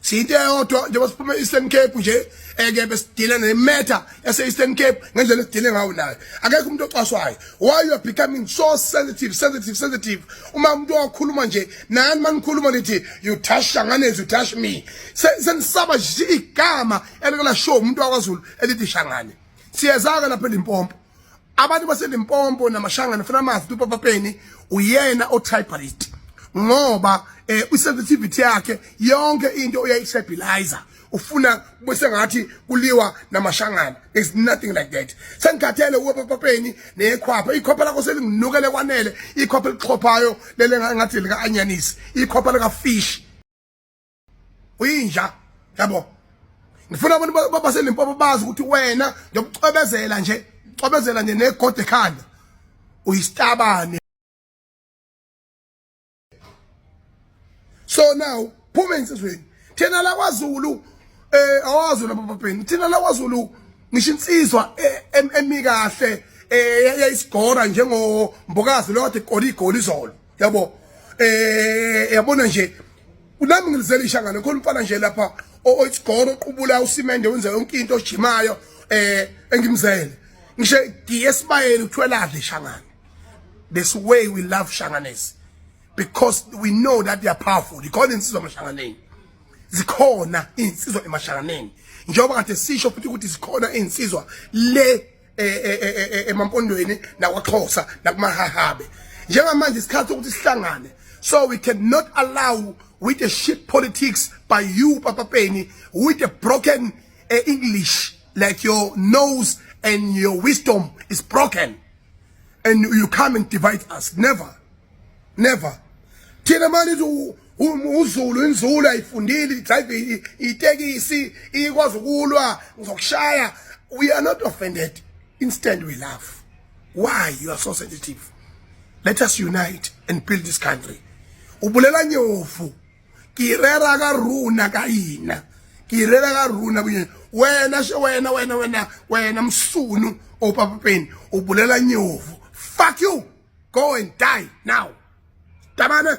siyinto eyodwa njengoba siphuma e-eastern cape nje eke eh, besidile ne-matter yase-eastern cape ngendlela esidile ngawo nayo akekho umuntu ocwaswayo why you are becoming so sensitive sensitive sensitive uma umuntu wakhuluma nje nani manikhuluma nithi you touch shanganezi you touch me senisaba nje igama elikela show umuntu wakwazulu elithi shangane siyeza-ke lapha elimpompo abantu baselimpompo namashangane funa amazi ukuthi upapa peni uyena otypalist ngoba eh isensitivity yakhe yonke into uyayistabilizer ufuna bese ngathi kuliwa namashangana there's nothing like that sengikhathele uwepapapeni nekhwapha ikhwapha lakho selinginukele kwanele ikhwapha elixhophayo lele ngathi lika anyanisi ikhwapha lika fish uyinja yabo ngifuna abantu baselimpopo bazi ukuthi wena ngiyokucobezela nje cobezela nje negode ekhanda uyisitabane so now phuma ensizweni thina la kwaZulu eh awaZulu ababheni thina la kwaZulu ngisho insizwa eh, emikahle eh, eyayisigora njengo mbokazi lo kade igoli igoli izolo yabo eh yabona nje nami ngilizela ishangane khona umfana nje lapha oyisigoro oqubula usimende wenza yonke into ojimayo eh engimzele ngisho giye sibayeni uthwelale shangane this way we love shanganesi because we know that they are powerful ikhona insizwa amashanganeni zikhona insizwa emashanganeni njengoba kade sisho futhi ukuthi zikhona insizwa le e, e, e, emampondweni nakwaXhosa nakumahahabe njengamanje isikhathi sokuthi sihlangane so we cannot allow with the shit politics by you Papa Penny with the broken uh, English like your nose and your wisdom is broken and you come and divide us never never thina manje uzulu inzulu ayifundile idrive itekisi ikwazi ukulwa ngizokushaya we are not offended instead we laugh why you are so sensitive let us unite and build this country ubulela nyofu kirera ka runa ka yina kirera ka runa kunye wena she wena wena wena wena msunu opapapeni ubulela nyofu fuck you go and die now tabana